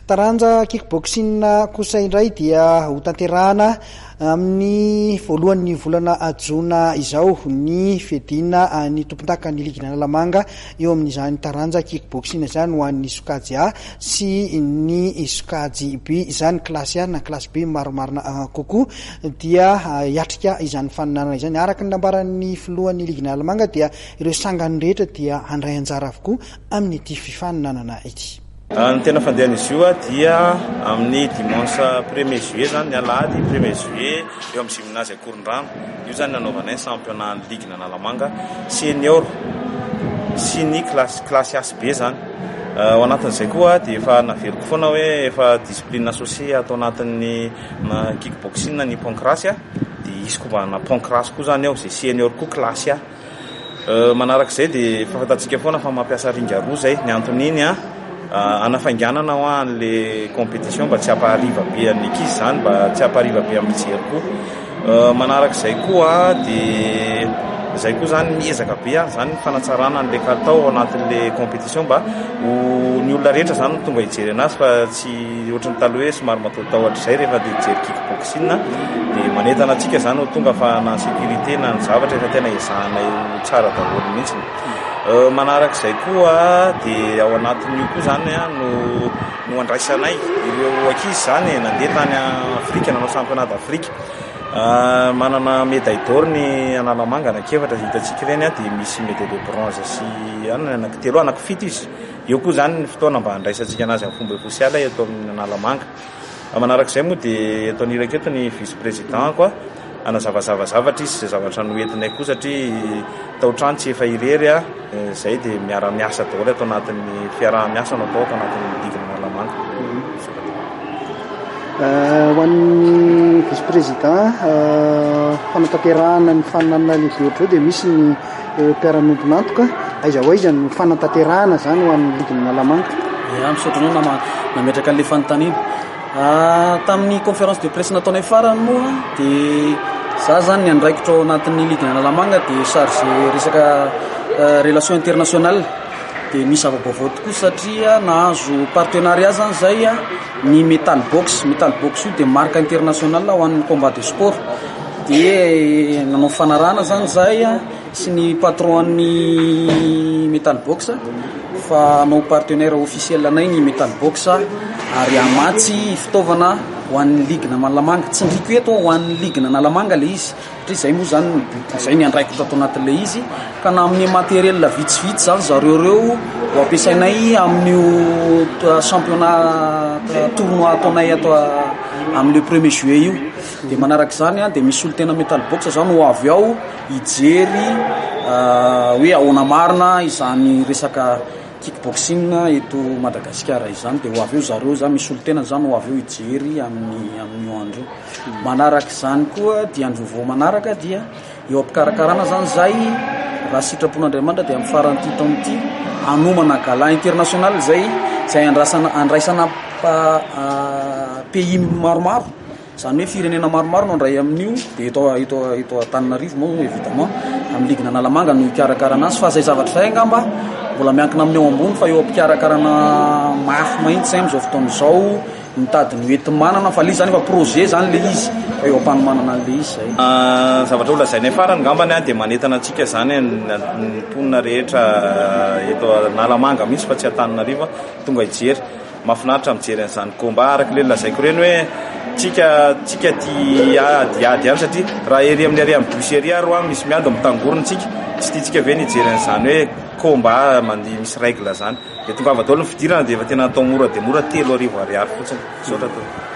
Taranja kickboxing kosa indray dia hotanterahana amin'ny voalohan'ny volana jona izao ny fiadiana ny tompondakan'ny ligin'Analamanga eo amin'izany taranja kickboxing izany ho an'ny sokajy A sy ny sokajy B izany kilasy A na kilasy B maromarina kokoa dia hiatrika izany faninanana izany araka ny nambaran'ny filohan'ny ligin'Analamanga dia ireo sangany rehetra dia handray anjara avokoa amin'ity fifaninanana ity. Ny tena fandehan'izy io dia amin'ny dimanche premier juillet izany, ny alahady premier juillet, eo amin'ny gymnase Ankorondrano. Io izany no hanaovanay ny championnat ny ligue an'Analamanga senior sy ny classe classe Ace be izany. Ao anatin'izay koa dia efa naveriko foana hoe efa discipline associée ato anatin'ny kick boxing ny pancrace dia hisy kovana pancrace koa izany ao izay senior koa classe A. Manaraka izay dia fantatsika foana fa mampiasa ringa roa izay, ny anton'iny an, hanafainganana hoa an'ilay competition mba tsy hampahariva be an'ny ankizy izany, mba tsy hampahariva be amin'ny mpijery koa. Manaraka izay koa dia izay koa izany miezaka be an izany ny fanatsarana an'ilay kalitao ao anatin'ilay competition mba ho ny olona rehetra izany no tonga hijery an'azy fa tsy. Tsy ohatry ny taloha hoe somary mataotahotra izay rehefa te hijery kick boxing a. Dia manentana antsika izany ho tonga fa na ny sécurité na ny zavatra efa tena ezahanay ho tsara daholo mihitsiny. Manaraka izay koa dia ao anatin'io koa izany a no no andraisanay ireo ankizy izany e, nandeha tany Afrika nanao championnat d'Afrique. Manana médaille d'or ny Analamanga anaky efatra izay hitantsika ireny a, dia misy médaille de bronze sy an ny anaky telo, anaky fito izy. Eo koa izany ny fotoana mba handraisantsika an'azy amin'ny fomba ofisialy eto amin'ny Analamanga. Manarak'izay moa dia eto anilako eto ny vice président-ko hanazavazava zavatra izy izay zavatra noentinay koa satria tao trano tsy efa irery aho. Izay dia miara miasa daholo ato anatin'ny fiaraha miasa no atao ato anatin'ny didy Analamanga. Ho an'ny vice président, fanatanterahana ny faninanana lehibe ohatr'izao dia misy ny. mpiara-miombon'antoka, aiza ho aiza ny fanatanterahana izany ho an'ny ligny Analamanga? Ya, misaotra anao nama nametraka an'ilay fanontaniana. Tamin'ny conférence de presse nataonay farany moa dia za zany ny andraikitro ao anatin'ny ligny Analamanga dia chargé resaka relation internationale dia misy zava-baovao tokoa satria nahazo partenariat zany zay ny metal box, metal box io dia marque internationale ho an'ny combat de sport. Dia nanao fanarahana izany izahay sy ny patron-n'ny Metal Box fa hanao partenaire officiel anay ny Metal Box ary hamatsy fitaovana ho an'ny ligue-na Analamanga. Tsindriako eto hoe ho an'ny ligue-na Analamanga ilay izy satria izay moa izany no but, izay ny andraikitra ato anatin'ilay izy ka na amin'ny matériel vitsivitsy izany zareo ireo ho ampiasainay amin'io championnat tournoi ataonay ato amin'ny le premier juillet io. Dia manaraka izany dia misy solontena metal box izany ho avy ao hijery hoe ahoana marina izany resaka kick boxing eto Madagasikara izany. Dia ho avy eo zareo izany misy solontena izany ho avy eo hijery amin'ny amin'io andro io. Manaraka izany koa dia andro vaovao manaraka dia eo am-pikarakarana izany izay raha sitrapon'Andriamanitra dia amin'ny faran'ity taona ity hanomana gala international izay izay andrasana andraisana pays maromaro. Izany hoe firenena maromaro no handray amin'io, dia eto eto eto Antananarivo moa évidemment amin'ny ligina Analamanga no hikarakarana azy fa izay zavatra izay angamba mbola miankina amin'ny eo ambony fa eo am-pikarakarana mafy mahitsy izay amin'izao fotoana izao mitady ny hoenti-manana fa ilay izy izany efa projet izany ilay izy fa eo am-panomanana an'ilay izy izay. Ah, zavatra holazainay farany angambany an, dia manentana antsika izany ny mponina rehetra eto Analamanga mihitsy fa tsy Antananarivo an, tonga hijery. Mafinaritra mijery an'izany combat araka ireny lazaiko ireny hoe tsika tsika ty ady ady ihany satria raha ery amin'ny ary amin'ny bus ery ary ho'a misy miady mitangorona tsika tsy tiantsika ve ny hijery an'izany hoe combat mandeha misy règle zany dia tongava daholo ny fidirana dia efa tena atao mora dia mora telo arivo ariary fotsiny misaotra tompoko.